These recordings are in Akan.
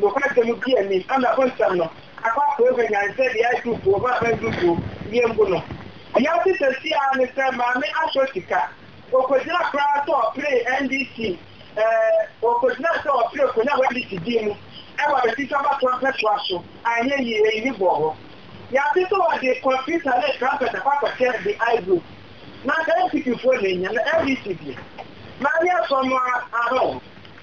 Nokwasɛm bi a emi, Anna Bonsam no, akɔ akɔɔ mu anya nsɛ de ayɛ duukuo ma aban duukuo, yɛn bu no. Yaw tetesi ara ne sɛ Maame asɔ sika. Ɔkɔgyina koraa sɛ ɔpere NDC, eh, ɔkɔgyina sɛ ɔpere kɔnya wɔ NDC din mu wɔ abatifi abatoɔ mpɛsoa so, anyɛ yie, eyi ne bɔɔ hɔ. Yɛate sɛ ɔde kɔmputa ne trumpet akɔ akɔkyɛ de I group. Na anka NPP foɔ na ɛnya, na NDC deɛ, Maame asɔ no ara, ahɔn.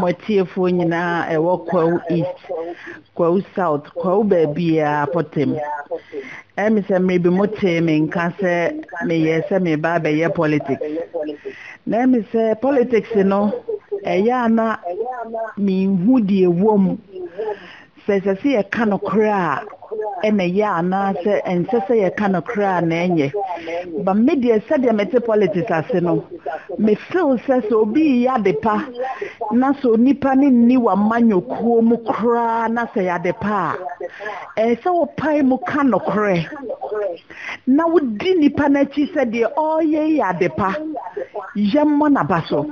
Mo atiefoɔ nyinaa a ɛwɔ Kwawu East, Kwawu South, Kwawu baabiara apɔtem. Ɛyɛ me sɛ mmerɛ bi mo tee me nka sɛ meyɛɛ sɛ mereba abɛyɛ politics. Na ɛyɛ me sɛ politics no ɛyɛ a na menhu deɛ ɛwɔ mu. Sɛ ɛsɛ sɛ yɛka nokorɛ a na ɛyɛ anaa sɛ ɛnsɛ sɛ yɛka nokorɛ a na ɛnyɛ. But me deɛ sɛdeɛ mete politics ase no, me feel sɛ sɛ obi reyɛ adepa na sɛ onipa no nni w'amanyɔkuo mu koraa na sɛ ɛyɛ adepa a, ɛyɛ sɛ wopae mu ka nokorɛ na wodi nipa no akyi sɛ deɛ ɔreyɛ yi yɛ adepa. Yɛmmɔ n'aba so.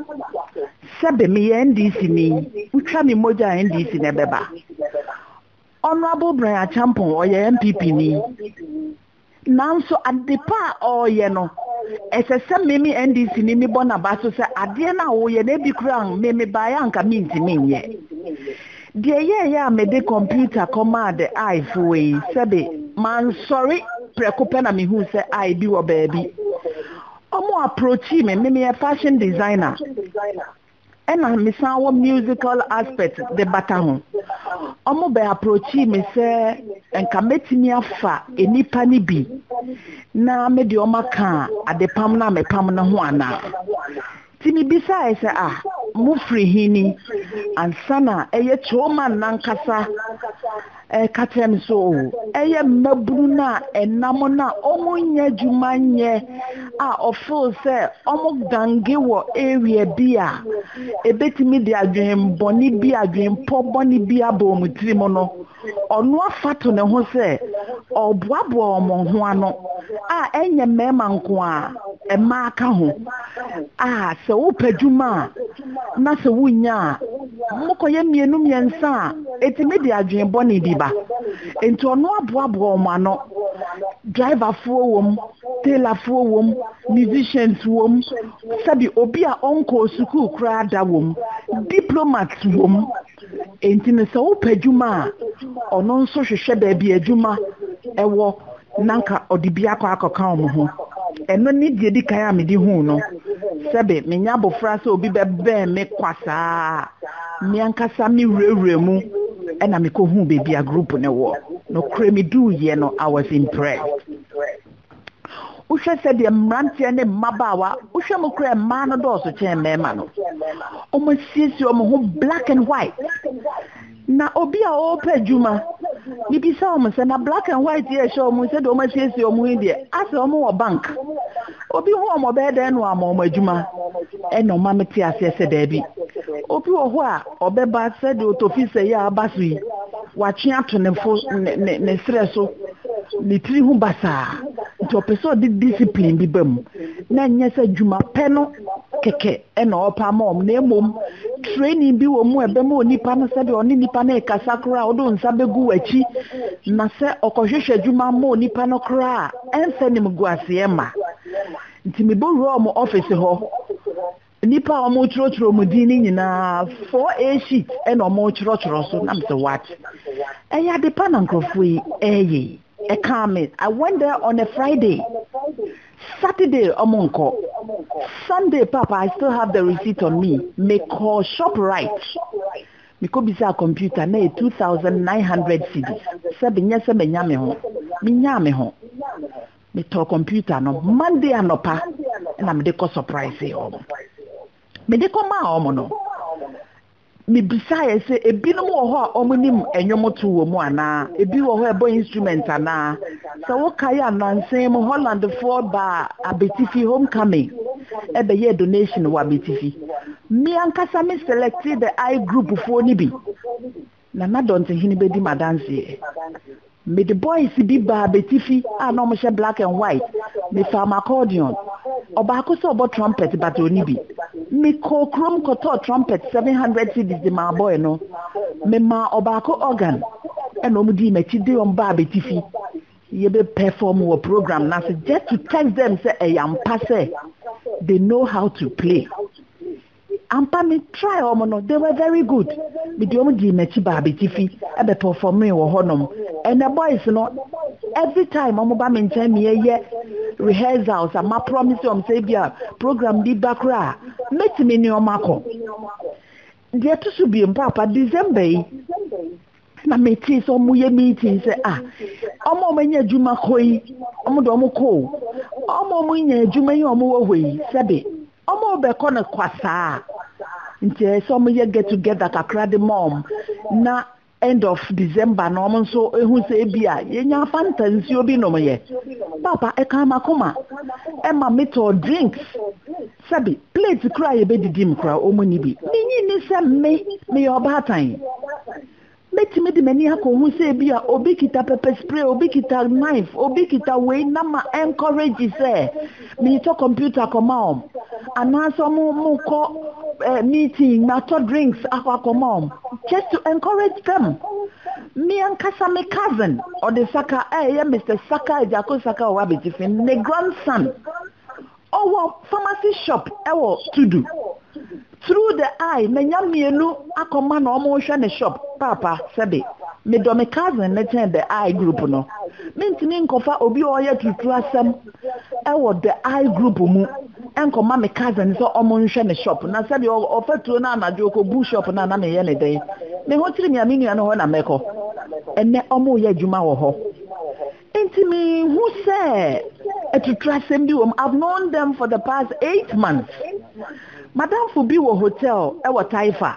Sɛbe meyɛ NDC ni, wotwa me mogya a NDC na ɛbɛba. Honourable Brian Acheampong ɔyɛ NPP ni, nanso adepa a ɔreyɛ no, ɛsɛ sɛ me me NDC ni mebɔ n'aba so sɛ adeɛ no a woyɛ no ebi koraa me mebaeɛ a anka mentumi nyɛ. Deɛ ɛyɛeɛ a mede kɔmputa kɔmaa the eye foɔ yi, sɛbe mansɔre prɛko pɛ na mehuu sɛ eye bi wɔ baabi. Ɔmo approachee me, me meyɛ fashion designer ɛna me san wɔ musical aspect de bata ho. Ɔmo bɛ approachee me sɛ nka mɛtumi afa nnipa no bi na mede ɔmo aka adepam no a mepam no ho anaa. Nti mibisae sɛ, Ah, mufiri he ni? Ansa na ɛyɛ Coleman n'ankasa reka kyerɛ me sɛ, Oh, ɛyɛ mmabunu no a ɛnam no a wɔnnya adwuma nyɛ a wɔfeel sɛ wɔgange wɔ area bi a ebetumi de adwene bɔne bi, adwempɔ bɔne bi aba wɔn tirim no. Ɔno afa to ne ho sɛ ɔreboaboa wɔn ho ano, a ɛnyɛ mmarima nko a, mmaa ka ho, a sɛ wopɛ adwuma a, na sɛ wunnya a, mokɔyɛ mmienu mmiɛnsa a, ɛtumi de adwene bɔne bi ba. Enti ɔno aboaboa wɔn ano. Driverfoɔ wom, tailorfoɔ wom, musicians wom, sɛbi obi a ɔnkɔɔ sukuu koraa da wom, diplomats wom. Enti no sɛ wopɛ adwuma a, ɔno nso hwehwɛ baabi a adwuma wɔ na anka ɔde bi akɔ akɔka wɔn ho. Ɛno ne deɛ ɛdi kan a mede huu no. Sɛbe menya abofra sɛ obi bɛbɛn me kwa saa a, me ankasa mewurawura mu na mekɔhuu baabi a group no wɔ. Nokorɛ meduruiɛ no, I was impressed. Wohwɛ sɛdeɛ mmeranteɛ ne mmabaawa, wohwɛ mu koraa mmaa no dɔɔso kyɛn mmarima no. Wɔasiesie wɔn ho black and white. Na obi a ɔrepɛ adwuma, mebisa wɔn sɛ, na black and white yɛ ɛhyɛ wɔn sɛdeɛ wɔasiesie wɔn ho yi deɛ, asɛ wɔn wɔ bank. Obi ho wɔn ɔbɛyɛ dɛn na wɔama wɔn adwuma? Ɛna ɔma mete aseɛ sɛ daabi. Obi wɔ hɔ a ɔbɛba sɛdeɛ ɔtɔfi sɛ yɛ a aba so yi, watwe ato ne fo ne ne ne serɛ so. ne tiri ho basaa, nti ɔpɛ sɛ ɔde discipline bi ba mu, na nyɛ sɛ adwuma pɛ no kɛkɛ na ɔpɛ ama wɔn, na mmom training bi wɔ mu a ɛbɛma onipa no sɛdeɛ ɔne nipa no rekasa koraa ɔde nsa bɛgu w'akyi, na sɛ ɔkɔhwehwɛ adwuma ma onipa no koraa a, ɛmfa animguaseɛ mma. Nti mebɛwuraa wɔn office hɔ. Nnipa a wɔkyerɛkyerɛ wɔn din no nyinaa, four a sheet na wɔkyerɛkyerɛ so. Na mesɛ what? Ɛyɛ ade pa na nkurɔfoɔ yi ɛreyɛ yi. Ɛkaa me. I went there on a Friday. Saturday wɔnkɔ. Sunday papa I still have the receipt on me. Mekɔɔ Shoprite. Mekɔbisaa computer na ɛyɛ 2,900 cedis. Sɛ menyɛ sɛ manya me ho. Menyaa me ho. Metɔɔ kɔmputa no Monday anɔpa na mede kɔ sɔpraesee wɔn. Mede kɔmaa wɔn no, mibisaeɛ sɛ ebinom wɔ hɔ a wɔnim nnwomto wɔ mu anaa, ebi wɔ hɔ a ɛbɔ instrument anaa. Sɛ wokae a, nnansa mu Hollandfoɔ baa Abetifi, Homecoming, bɛyɛɛ donation wɔ Abetifi. Me ankasa me selectee the I Groupfoɔ no bi. Na na dɔntehene bɛdi me adanseɛ. Mede boys bi baa bɛtifi a na wɔhyɛ black and white. Mefaa m'accordion. Ɔbaako sɛ ɔbɔ trumpet but ɔnni bi. Mekɔɔ kurom kɔtɔɔ trumpet seven hundred cedis de maa boy no. Memaa ɔbaako organ. Ɛna wɔdii m'akyi de wɔn baa bɛtifi. Yɛbɛ perform wɔ program no ase just to test them sɛ ɛyɛ ampa sɛ they know how to play. Ampa me try wɔn no they were very good mede wɔn dii makyi baa betifi ɛbɛ performee wɔ hɔ nom ɛnɛ boys no every time wɔn ba me nkyɛn me yɛ yɛ rehearsals a ma promise wɔn sɛ ebi a program bi ba kora a mɛtumi ne wɔn akɔ deɛ ɛto so biem paapa December yi na metee sɛ ɔmo yɛ meeting sɛ a ɔmo ɔmo anya adwuma kɔ yi ɔmo de ɔmo kɔ ɔmo ɔmo nya adwuma yi ɔmo wɔ hɔ yi sɛbi ɔmo bɛkɔ no kwasaa nti ɛyɛ sɛ ɔmo yɛ get together kakra de ma ɔmo na end of december na ɔmo nso ehu sɛ ebi a yɛnya fanta nsuo bi nom yɛ papa ɛka makoma ɛma metɔɔ drinks. Sɛbe, plate koro a yebedidi mu koraa wɔn nni bi. Minnye nni sɛ me, meyɛ ɔbaatan. Metumi de m'ani akɔ ho sɛ ebia obi kita pepper spray, obi kita knife, obi kita wei na ma encourage sɛ meretɔ computer akɔma wɔn, anaasɛ wɔn mokɔ eh, meeting, matɔ drinks akɔ akɔma wɔn, just to encourage them. Me ankasa me cousin, ɔde Saka, eh, ɛyɛ Mr. Saka, Agyako Saka ɔwɔ abegye fi, ne grandson. Ɔwɔ pharmacy shop wɔ Tudu. Through the eye manya mmienu akɔma no wɔrehwɛ ne shop paapa sɛbe. Medɔ me cousin no kyɛn the eye group no. Mentumi nkɔfa obi a ɔyɛ turuturu asɛm wɔ the eye group mu nkɔma me cousin sɛ wɔnhwɛ ne shop na sɛbe ɔfa tuo na anadwo ɔkɔbu shop no a na meyɛ ne dɛn? Me ho kyere me a me nua no hɔ na mɛkɔ. Ɛnnɛ wɔreyɛ adwuma wɔ hɔ. Enti minhu sɛ atuturasɛm bi wom. I've known them for the past eight months. Madamfo bi wɔ hotel wɔ Taifa.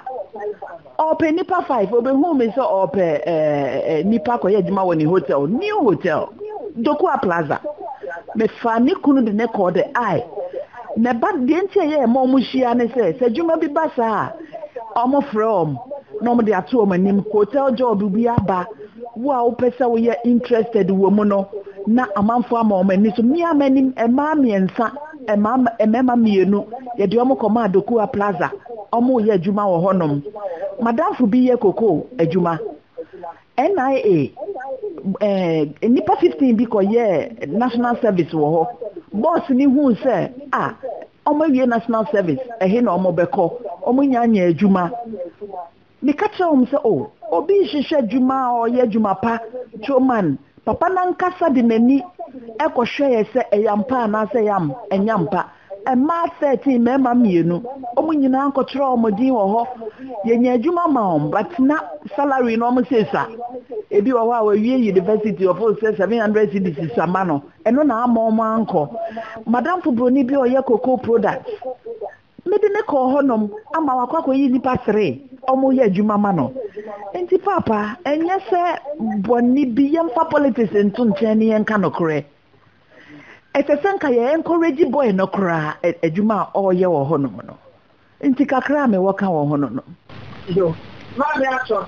Ɔpɛ nipa five. Obehu me sɛ ɔpɛ eh, nipa kɔyɛ adwuma wɔ ne hotel, new hotel, Dokua Plaza. Mefa ne kunu de ne kɔɔ the eye. Na ɛba deɛ nti a ɛyɛ ɛma wɔn hyia ne sɛ, sɛ adwuma bi ba saa a, wɔfrɛ wɔn na wɔde ato wɔn anim. Hotel job bi aba. Wo a wopɛ sɛ woyɛ interested wɔ mu no na amanfoɔ ama wɔn ani so. Me a m'anim mmaa mmiɛnsa, mmaa mmarima mmienu, yɛde wɔn kɔmaa Dokuwa Plaza, wɔreyɛ adwuma wɔ hɔnom. M'adamfo bi yɛ cocoa adwuma. NIA, eh, nnipa 15 bi kɔyɛɛ national service wɔ hɔ. Bɔs no huu sɛ, a, wɔawie national service, ɛhe na wɔbɛkɔ? Wɔnya nyɛ adwuma. Meka kyerɛɛ wɔn sɛ, O, obi rehwehwɛ adwuma a ɔyɛ adwuma pa, Truman, papa no ankasa de n'ani kɔhwɛeɛ sɛ ɛyɛ ampa anaasɛ ɛyɛ am, ɛnyɛ ampa. Mmaa 13, mmarima mmienu. Wɔn nyinaa nkɔtwerɛɛ wɔn din wɔ hɔ. Yɛnyaa adwuma maa wɔn, but na salary no wɔn se sa. Ebi wɔ hɔ a wawie university, wɔfo sɛ 700 cedis sa ma no. Ɛno na amma wɔn ankɔ. Madamfo buroni bi a ɔyɛ cocoa products, Mede no kɔɔ hɔnom ama wakɔ akɔyi nnipa sere a wɔyɛ adwuma ma no. Enti Paapa, ɛnyɛ sɛ bɔne bi, yɛmfa politics nto nkyɛn na yɛnka nokorɛ. Ɛsɛ sɛ nka yɛ encourage boy no koraa adwuma a ɔreyɛ wɔ hɔnom no. Enti kakra a mewɔ ka wɔ ho no no. Yo, Maame Atɔ,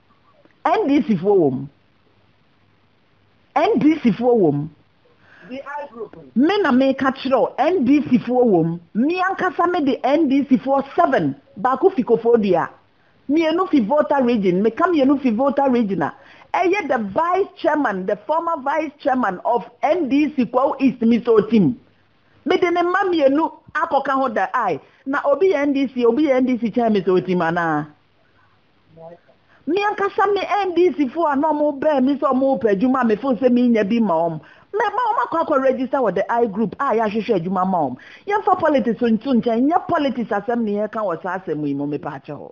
NDC foɔ wɔ mu. NDC foɔ wɔ mu. Me na meka kyerɛ wo, NDC foɔ wɔ mu. Me ankasa me de NDC foɔ seven, baako fi Koforidua, mmienu fi Volta region, meka mmienu fi Volta region a, ɛyɛ the vice chairman, the former vice chairman of NDC Kwawu East Miso Otim. Mede ne mma mmienu akɔka ho da ai, na obi yɛ NDC, obi yɛ NDC kyɛn Miso Otim anaa? Me ankasa me NDC fo a na wɔn bɛn mi sɛ wɔn repɛ adwuma a me fo sɛ me nya bi ma wɔn. Mɛ ma wɔn akɔ akɔ register wɔ the I group a yɛahwehwɛ adwuma ma wɔn. Yɛn fa politics nto nkyɛn, nyɛ politics asɛm ne yɛreka wɔ saa asɛm yi mu, me paa kyɛw.